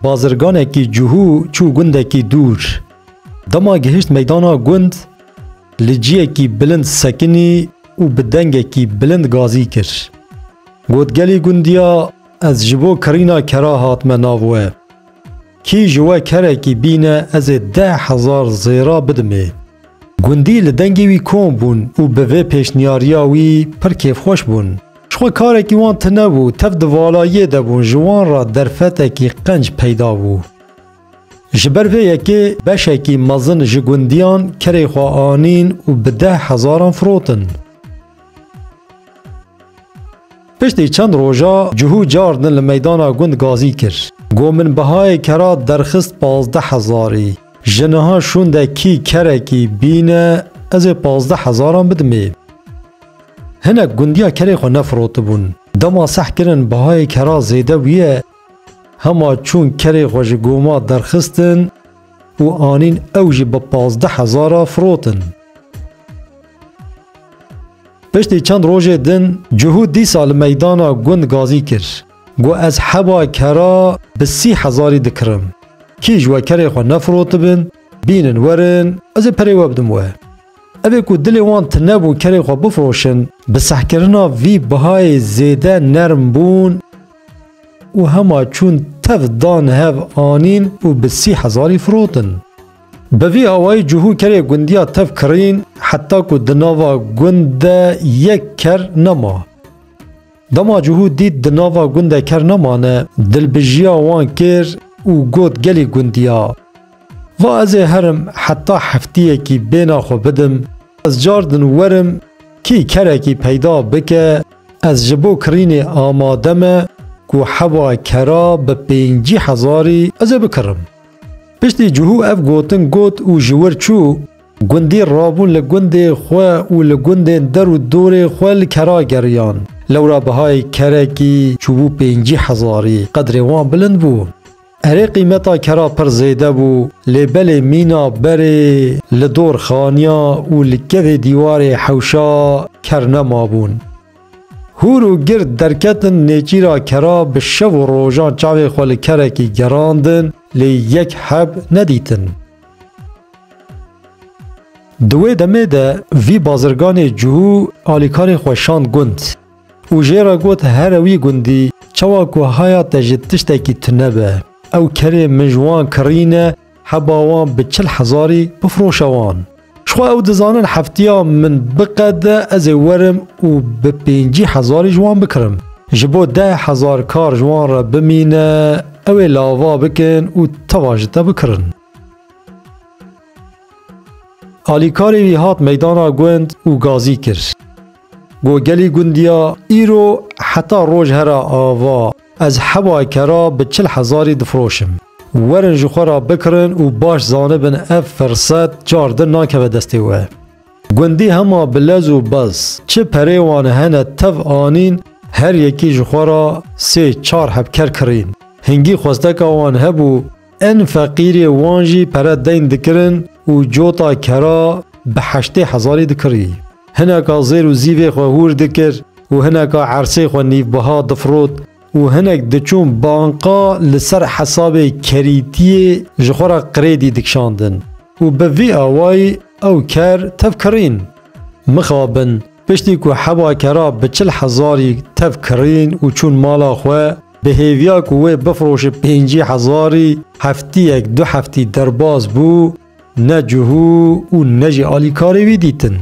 Bazirganekî cihû çû gundekî dûr. Dema gihişt meydana gund, li ciyekî bilind sekinî û bi dengekî bilind gazî kir. Got gelî gundiya ez ji bo kirîna kera hatime nav we. Kî ji we kerekî bîne ez ê deh hezar zêra bidimê. Gundî li dengê wî kom bûn û bi vê pêşniyariya wî pir kêfxweş bûn. Ji xwe karekî wan tune bû, tev di vala yê de bûn ji wan re derfetekî qenc peyda bû. Ji ber vê yekê beşekî mezin ji gundiyan kerê xwe anîn û bi deh hezaran firotin. Piştî çend roja cihû car din li meydana gund gazî kir. Go min bihayê kera derxist pazdeh hezarî. Ji niha şûnde kî kerekî bîne ez ê pazdeh hezaran bidimê. Hinek gundiya kerê xwe nefirotibûn. Dema seh kirin bihayê kera zêde bûye hema çûn kerê xwe ji goma derxistin û anîn ew jî bi pazdeh hezara firotin. Piştî çend rojê din Cuhû dîsa li meydana gund gazî kir. Got ez heba kera bi sî hezarî dikirim. Kî ji we kerê xwe nefirotibin, bînin werin ez ê perê we bidim we. Ev ê ku dilê wan tune bû kerê xwe bifiroşin, bi sehkirina vî bihayê zêde nerm bûn û hema çûn tev dan hev anîn û bi sî hezarî firotin. Bi vî awayî cihû kerê gundiya tev kirîn heta ku di nava gund de yek ker nema. Dema cihû dît di nava gund de ker nemane, dilbijiya wan kir û got gelî gundiya. Va ez ê herim heta heftiyekî bêhna xwe bidim, ez car din werim kî kerekî peyda bike, ez ji bo kirînê amade me ku heva kera bi pêncî hezarî ez ê bikirim. Piştî cihû ev gotin got û ji wir çû, gundî rabûn li gundê xwe û li gundên der û dorê xwe li kera geriyan. Lewra bihayê kerekî çûbû pêncî hezarî, qedrê wan bilind bû. Erê qîmeta kera pir zêde bû, lê belê mîna berê li dor xaniya û li kevê dîwarê hewşa ker nemabûn. Hûr û gird derketin nêçîra kera bi şev û rojan çavên xwe li kerekî gerandin lê yek heb nedîtin. Di wê demê de vî bazirganê cû alîkarê xwe şand gund û jê re got here wî gundî çawa ku haya te ji tiştekî tune be ew kerê min ji wan kirîne Heba wan bi çil hezarî bifroşe wan. Jixwe ew dizanin heftiya min biqede ez ê werim û bi pêncî hezarî ji wan bikirim. Ji bo deh hezar kar ji wan re bimîne ew ê lava bikin û teva ji te bikirin. Alîkarê wî hat meydana gund û gazî kir. Go gelî gundiya îro heta roj hera ava ez hewa kera bi çil hezarî difiroşim. Werin ji xwe re bikirin û baş zanibin ev firset car din nakeve destê we. Gundî hema bi lez û bez çi perê wan hene tev anîn her yekî ji xwe re sê çar hebker kirîn. Hingî xwesteka wan hebû En feqîrê wan jî pere deyn dikirin û cota kera bi heştê hezarî dikirî. Hineka zêr û zîvê xwe hûr dikir û hineka ersê xwe nîvbiha difirot û hinek diçûn banka li ser hesabê kerîtiyê ji xwe re krêdî dikişandin û bi vî awayî ew ker tev kirîn. Mixabin, piştî ku heba kera bi çil hezarî tev kirîn û çûn mala xwe, Bi hêviya ku wê bifroşe pêncî hezarî heftiyek du heftî derbas bû, ne cihû û ne jî alîkarê wî dîtin.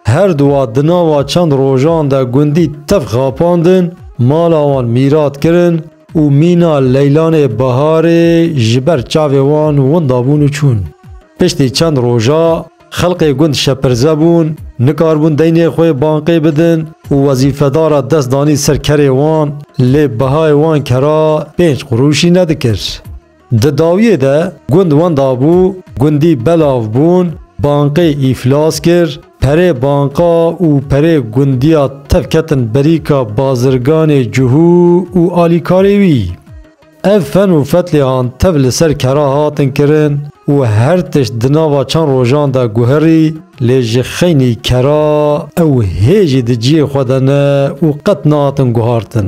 Her duwa di nava çend rojan de gundî tev xapandin, mala wan mîrat kirin û mîna leylanê biharê ji ber çavê wan winda bûn û çûn. Piştî çend roja. Xelkê gund şepirze bûn, nikaribûn deynê xwe banqê bidin û wezîfedara dest danî ser kerê wan lê bihayê wan kera pênc qurûşî nedikir. Di dawiyê de gund wenda bû, gundî belav bûn, banqê îflas kir, perê banqa û perê gundiya tev ketin berîka bazirganê cihû û alîkarê wî. Ev fen û fetlêhan tev li ser kera hatin kirin û her tişt di nava çend rojan de guherî lê ji xeynî kera ew hê jî di ciyê xwe de ne û qet nahatin guhartin.